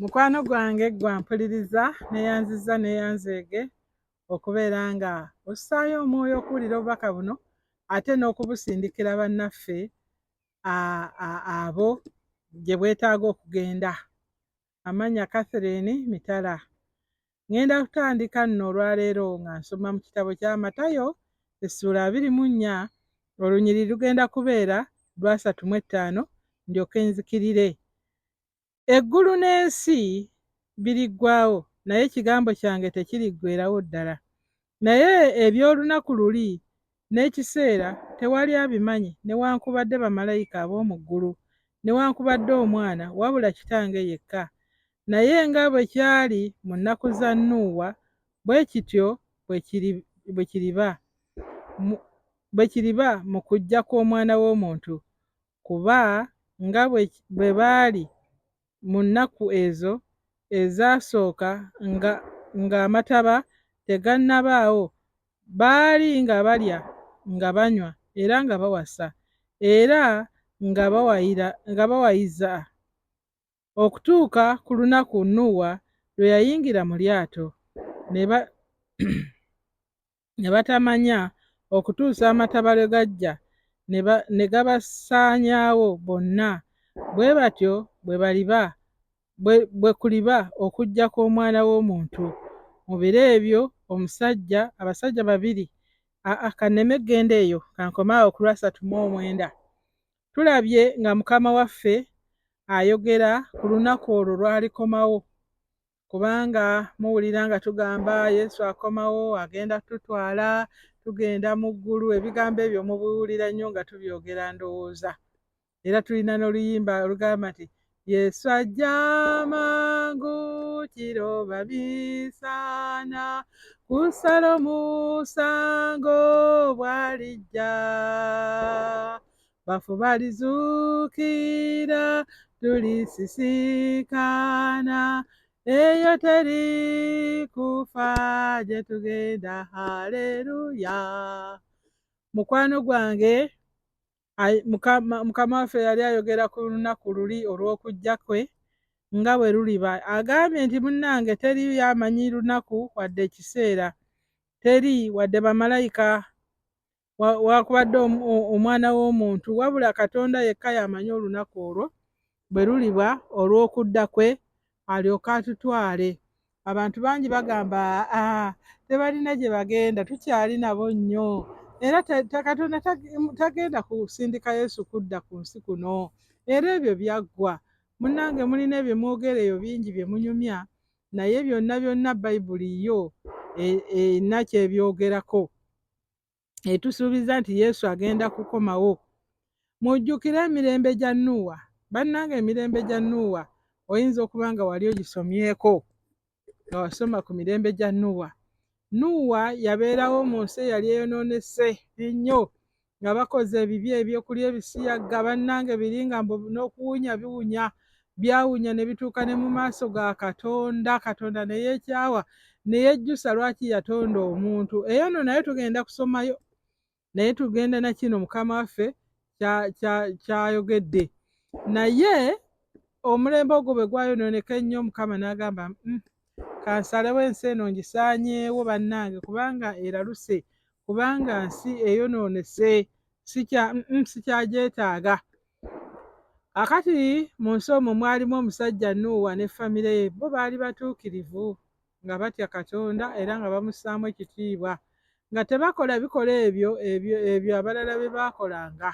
mukwano gwange gwampuliriza neyanziza neyanzeege okubeera nga ossaayo omwoyo okuwulira obubaka buno ate n'okubusindikira bannaffe abo gye bwetaaga okugenda amannya Catherine Mitala. Ngenda kutandika nno olwaleero nga nsoma mu kitabo kya Matayo essuula abiri mu nnya olunyiri lugenda kubeera lwasatu mu ettaano ndyoke nzikirire. Eggulu n'ensi biriggwawo naye ekigambo kyange tekiriggwerawo ddala. Naye eby'olunaku luli n'ekiseera tewali abimanyi newankubadde bamalayika ab'omu ggulu, newankubadde Omwana, wabula Kitange yekka. Naye nga bwe kyali mu nnaku za Nuuwa, bwe kityo bwe kiri, bwe kiriba mu, bwe kiriba mu kujja kw'Omwana w'omuntu, kuba nga bwe, bwe baali mu nnaku ezo ezaasooka nga ng'Amataba tegannabaawo, baali nga balya, nga banywa, era nga bawasa, era nga bawayira, nga bawayiza, okutuuka ku lunaku Nuuwa lwe yayingira mu lyato, ne ba, ne batamanya okutuusa amataba lwe gajja ne gabasaanyaawo bonna, bwe batyo bwe baliba bwe kuliba okujja kw'omwana w'omuntu. Mu biro ebyo omusajja abasajja babiri aa kanneme eggenda eyo kankoma awo ku lwasatu mu omwenda tulabye nga mukama waffe ayogera ku lunaku olwo lwalikomawo kubanga muwulira nga tugamba yesu akomawo agenda tutwala tugenda mu ggulu ebigambo ebyo mubiwulira nnyo nga tubyogera ndowooza era tulina n'oluyimba olugamba nti yesu ajja mangu kiro bamisana kusala omusango bwalijja bafu balizuukira tulisisinkana eyo teri kufa gye tugenda haleluya mukwano gwange mukama waffe yali ayogera ku lunaku luli olw'okujja kwe nga bwe luliba agambye nti munnange teri yamanyi lunaku wadde ekiseera teri wadde bamalayika wakubadde omwana w'omuntu wabula katonda yekka y'amanyi olunaku olwo bwe luliba olw'okudda kwe alyoke atutwale abantu bangi bagamba aa tebalina gye bagenda tukyali nabo nnyo era katonda tagenda kusindika yesu kudda ku nsi kuno era ebyo byaggwa munnange mulina ebyemwogera eyo bingi bye munyumya naye byonna byonna bayibuli yo e, erina kyebyogerako etusuubiza nti yesu agenda kukomawo mujjukire emirembe gya nuuwa bannanga emirembe gya nuuwa oyinza okuba nga wali ogisomyeko nga wasoma ku mirembe gya nuuwa nuuwa yabeerawo mu nsi eyali eyonoonese ennyo nga bakoze ebibi ebyokulya ebisiyaga bannanga ebiringa n'okuwunya biwunya Byawunya ne bituuka ne mu maaso ga Katonda, Katonda ne yeekyawa, ne yejjusa lwaki yatonda omuntu. Eyo nno nayo tugenda kusomayo, naye tugenda na kino Mukama waffe ky'ayogedde. Naye omulembe ogwo bwe gwayonooneka ennyo, Mukama n'agamba mm, kansalewo ensi eno ngisaanyeewo bannange, kubanga eraluse, kubanga nsi eyonoonese, sikyagyetaaga. Akati mu nsi omwo mwalimu omusajja Nuuwa ne famire ye. Bo baali batuukirivu, nga batya Katonda era nga bamussaamu ekitiibwa, nga tebakola bikola ebyo ebyo ebyo abalala bye baakolanga.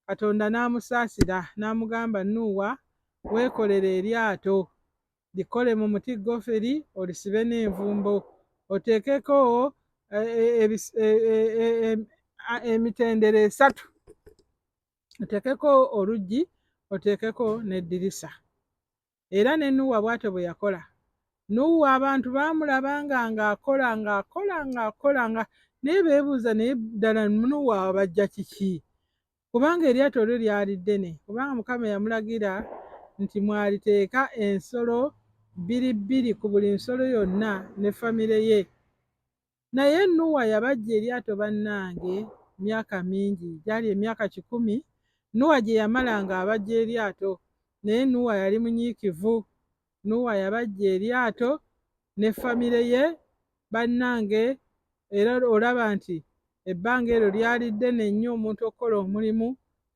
Katonda n'amusaasira n'amugamba, Nuuwa, weekolere eryato, likole mu muti goferi, olisibe n'envumbo, oteekeko eh, eh, eh, emitendera esatu oteekeko oluggi oteekeko n'eddirisa era ne nuuwa bw'atyo bwe yakola nuuwa abantu baamulaba nga ng'akola ng'akola ng'akola nga naye beebuuza naye ddala nuuwa abajja kiki kubanga eryato lyo lyali ddene kubanga mukama yamulagira nti mwaliteeka ensolo bbiri bbiri ku buli nsolo yonna ne famire ye Naye Nuwa yabajja eryato bannange myaka mingi, gyali emyaka kikumi Nuwa gye yamala nga abajja eryato, naye Nuwa yali munyiikivu. Nuwa yabajja eryato ne famire ye bannange, era olaba nti ebbanga eryo lyali ddene nnyo omuntu okukola omulimu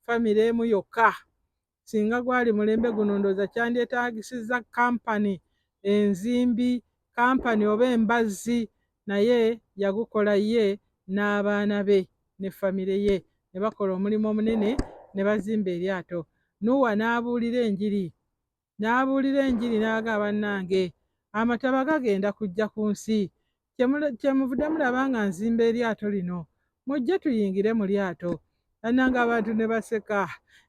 famire emu yokka. Singa gwali mulembe guno ndowooza kyandyetaagisizza kampani enzimbi, kampani oba embazzi naye yagukola ye n'abaana be ne famire ye ne bakola omulimu omunene ne bazimba eryato. Nuuwa n'abuulira enjiri. N'abuulira enjiri n'agamba, Bannange, Amataba gagenda kujja ku nsi. Kyemuvudde mulaba nga nzimba eryato lino, mujje tuyingire mu lyato. Bannange abantu ne baseka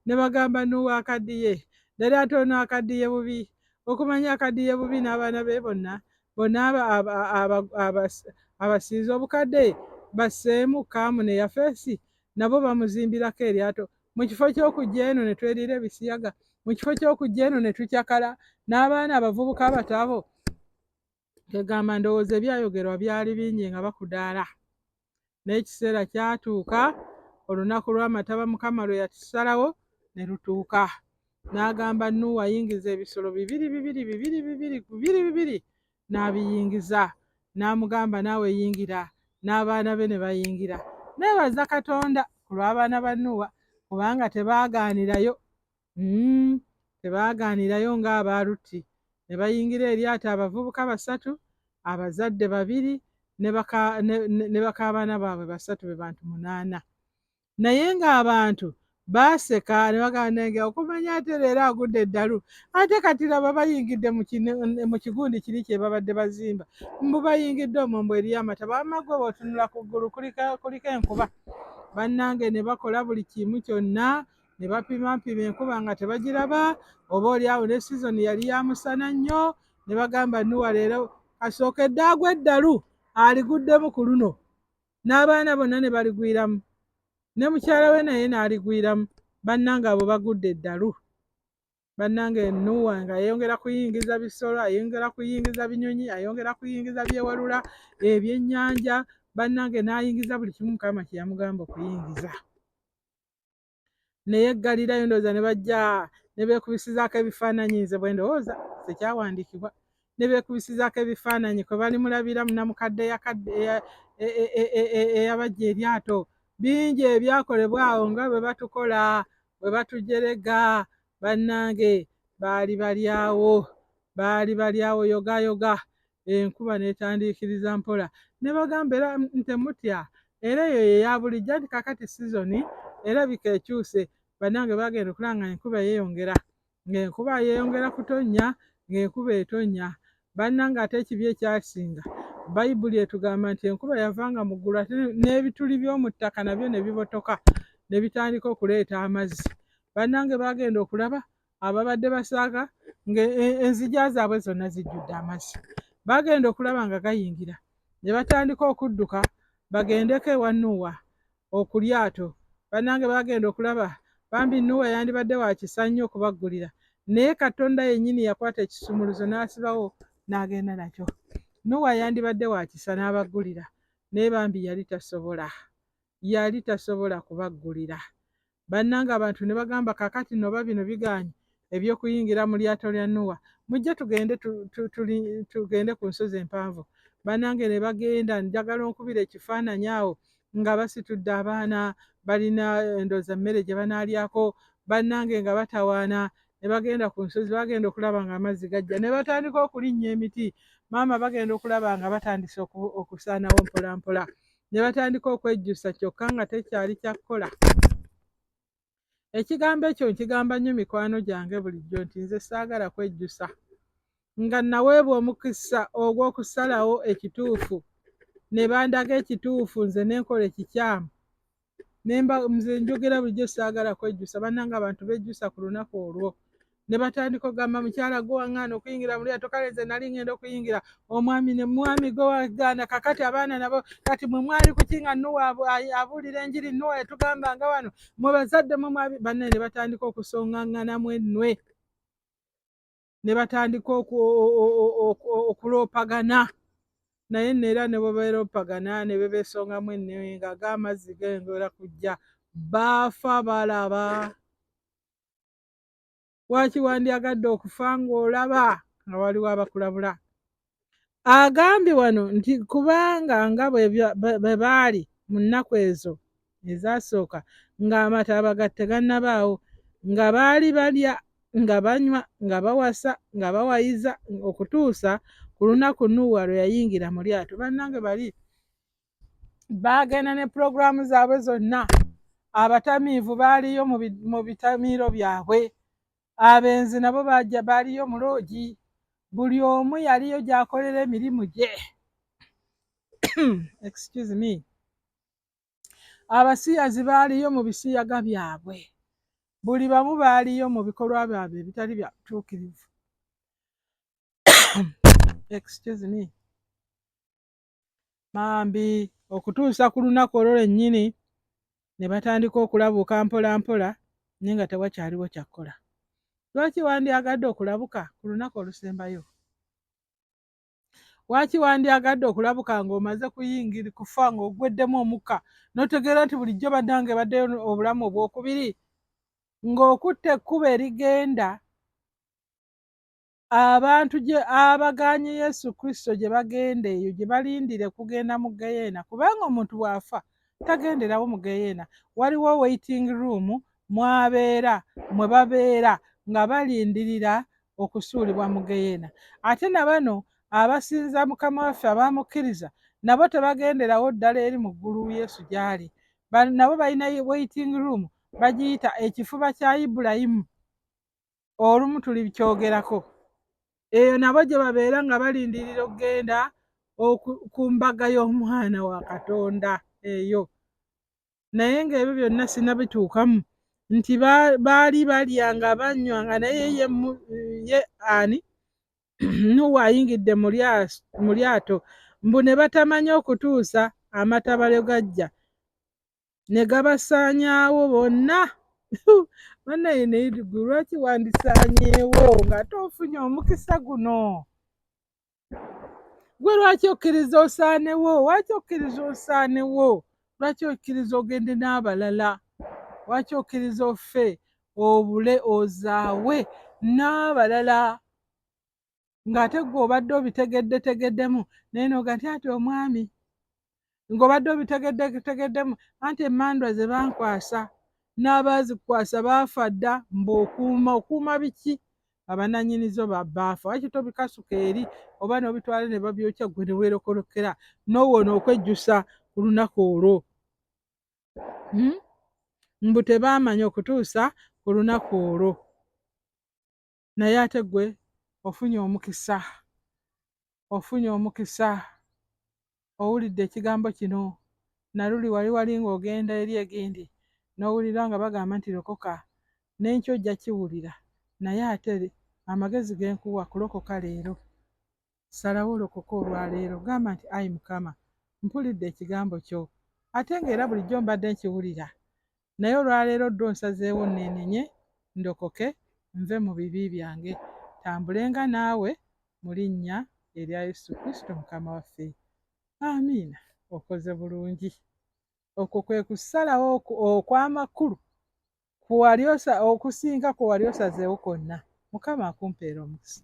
ne bagamba Nuuwa akaddiye, ddala ate ono akaddiye bubi, okumanya akaddiye bubi n'abaana be bonna bonna abasiize obukadde basseemu kaamu ne yafeesi nabo bamuzimbirako eryato mu kifo ky'okujja eno ne tweriira ebisiyaga mu kifo ky'okujja eno ne tucakala n'abaana abavubuka abato abo Kegamba ndowooza ebyayogerwa byali bingi nga bakudaala, naye ekiseera kyatuuka olunaku lw'amataba Mukama lwe yatusalawo ne lutuuka. N'agamba Nuuwa ayingiza ebisolo bibiri bibiri bibiri bibiri bibiri bibiri n'abiyingiza. N'amugamba naawe yingira, n'abaana be ne bayingira. Neebaza Katonda ku lw'abaana ba Nuuwa kubanga tebaagaanirayo Mm, tebaagaanirayo ng'aba Lutti ne bayingira eryato abavubuka basatu, abazadde babiri ne baka, ne, ne bakaabaana baabwe basatu be bantu munaana. Naye ng'abantu baaseka ne bagamba nange okumanya ate leero agudde eddalu ate kati laba bayingidde mu kigundi kiri kye babadde bazimba mbu bayingidde omwo mbu eriyo amata bamma gwe bootunula ku ggulu kuliko enkuba bannange ne bakola buli kimu kyonna ne bapimampima enkuba nga tebagiraba oba oli awo ne sizoni yali ya musana nnyo ne bagamba nuwa leero kasooka eddaagu eddalu aliguddemu ku luno n'abaana bonna ne baligwiramu ne mukyala we naye n'aligwiramu bannanga abo bagudde eddalu bannanga enuwa nga ayongera kuyingiza bisolo ayongera kuyingiza binyonyi ayongera kuyingiza byewalula ebyennyanja bannange n'ayingiza buli kimu mukama kyeyamugamba okuyingiza naye eggalirayo ndowooza ne bajja ne beekubisizaako ebifaananyi nze bwe ndowooza tekyawandiikibwa ne beekubisizaako ebifaananyi kwe bali mulabira munamukadde eyabajja eryato bingi ebyakolebwa awo nga bwe batukola bwe batujerega bannange baali balyawo baali balyawo yogayoga Enkuba n'etandiikiriza mpola. Ne bagamba era nti, Temutya. Era eyo ye ya bulijjo, anti kaakati sizoni erabika ekyuse. Bannange, baagenda okulaba nga enkuba yeeyongera, nga enkuba yeeyongera kutonnya, nga enkuba etonnya. Bannange, ate ekibi ekyasinga, Bayibuli etugamba nti enkuba yavanga mu ggulu ate n'ebituli by'omu ttaka nabyo ne bibotoka ne bitandika okuleeta amazzi. Bannange, baagenda okulaba ababadde basaaga nga e, enzija zaabwe zonna zijjudde amazzi bagenda okulaba nga gayingira ne batandika okudduka bagendeko ewa nuuwa okulyato bannange bagenda okulaba bambi nuuwa yandibadde wakisa nnyo okubaggulira naye katonda yennyini yakwata ekisumuluzo n'asibawo n'agenda nakyo nuuwa yandibadde wakisa n'abaggulira naye bambi yali tasobola yali tasobola kubaggulira Bannange abantu ne bagamba, Kaakati nno oba bino bigaanyi eby'okuyingira mu lyato lya Nuuwa, mujje tugende tu, tu, tu, tugende ku nsozi empanvu. Bannange ne bagenda, njagala onkubira ekifaananyi awo nga basitudde abaana balina endooza mmere gye banaalyako, bannange nga batawaana ne bagenda ku nsozi, bagenda okulaba nga amazzi gajja, ne batandika okulinnya emiti, maama bagenda okulaba nga batandise okusaanawo mpolampola. ne batandika okwejjusa kyokka nga tekyali kyakukola ekigambo ekyo nkigamba nnyo mikwano gyange bulijjo nti nze saagala kwejjusa nga naweebwa omukisa ogw'okusalawo ekituufu ne bandaga ekituufu nze nenkola ekikyamu nemba nze njogera bulijjo saagala kwejjusa bannanga abantu bejjusa ku lunaku olwo ne batandika okugamba mukyala gwe waŋŋaana okuyingira mu lyato kale nze nali ŋŋenda okuyingira omwami ne mwami gwe wagaana kakati abaana nabo kati mwe mwali kuki nga nuwa abuulira enjiri nuwa yatugamba nga wano mwe bazadde mwe mwabi banne ne batandika okusongaŋŋanamu ennwe ne batandika okuloopagana naye neera ne bwe beeroopagana ne be beesongamu ennwe nga ga amazzi gengera kujja baafa balaba lwaki wandyagadde okufa ng'olaba nga waliwo abakulabula agambye wano nti kubanga nga bwe baali mu nnaku ezo ezaasooka ng'amataba ga tegannabaawo nga baali balya nga banywa nga bawasa nga bawayiza okutuusa ku lunaku nuuwa lwe yayingira mu lyato bannange bali baagenda ne pulogulaamu zaabwe zonna abatamiivu baaliyo mu bitamiiro byabwe abenzi nabo bajja baaliyo mu loogi buli omu yaliyo gyakolera emirimu gye excuse me abasiyazi baaliyo mu bisiyaga byabwe buli bamu baaliyo mu bikolwa byabwe ebitali bya butuukirivu excuse me Bambi okutuusa ku lunaku olwo lwennyini ne batandika okulabuuka mpolampola naye nga tewakyaliwo kyakkola. Lwaki wandyagadde okulabuka ku lunaku olusembayo? Lwaki wandyagadde okulabuka ng'omaze kuyingira kufa ng'ogweddemu omukka n'otegeera nti bulijjo bannange baddeyo obulamu obwokubiri ng'okutte ekkubo erigenda Abantu gye abagaanye Yesu Kristo gye bagenda eyo gye balindire kugenda mu geyeena kubanga omuntu bw'afa tagenderawo mu geyeena waliwo waiting room mwabeera mwe babeera nga balindirira okusuulibwa mu geyeena ate na bano abasinza mukama waffe abamukkiriza nabo tebagenderawo ddala eri mu ggulu Yesu gy'ali nabo balina waiting room bagiyita ekifuba kya Ibulayimu olumu tuli bikyogerako eyo nabo gye babeera nga balindirira okugenda ku mbaga y'omwana wa katonda eyo naye ng'ebyo byonna sina bituukamu nti baali balya nga banywa nga naye ye ani nuwa ayingidde mu lyato mbu ne batamanya okutuusa amatabalyo gajja ne gabasaanyaawo bonna banaye neyirigu lwaki wandisaanyeewo ng'ate ofunye omukisa guno gwe lwaki okkiriza osaanewo lwaki okkiriza osaanewo lwaki okkiriza ogende n'abalala lwaki okkiriza offe obule ozaawe n'abalala ng'ate gwe obadde obitegeddetegeddemu naye noga nti ati omwami ng'obadde obitegeddetegeddemu anti emmandwa ze bankwasa n'abaazikwasa baafa dda mbaokuuma okuuma biki abananyini zo babaafa waki tobikasuka eri oba n'obitwala ne babyokya gwe ne weerokolokera n'owona okwejjusa ku lunaku olwo hmm? mbu tebaamanya okutuusa ku lunaku olwo naye ate gwe ofunye omukisa ofunye omukisa owulidde ekigambo kino naluli wali wali ng'ogenda eri egindi n'owulira nga bagamba nti lokoka n'enkyo ojja kiwulira naye ate amagezi genkuwa kulokoka leero Salawo olokoke olwaleero. Gamba nti, Ayi Mukama, mpulidde Ekigambo Kyo. Ate nga era bulijjo mbadde nkiwulira, naye olwaleero ddwo nsazeewo nneenenye, ndokoke, nve mu bibi byange, ntambulenga Naawe, mu Linnya erya Yesu Kristo Mukama waffe. Amiina. Okoze bulungi. Okwo kwe kusalawo okw'amakulu okusinga kwe wali osazeewo kwonna. Mukama akumpeere omukisa.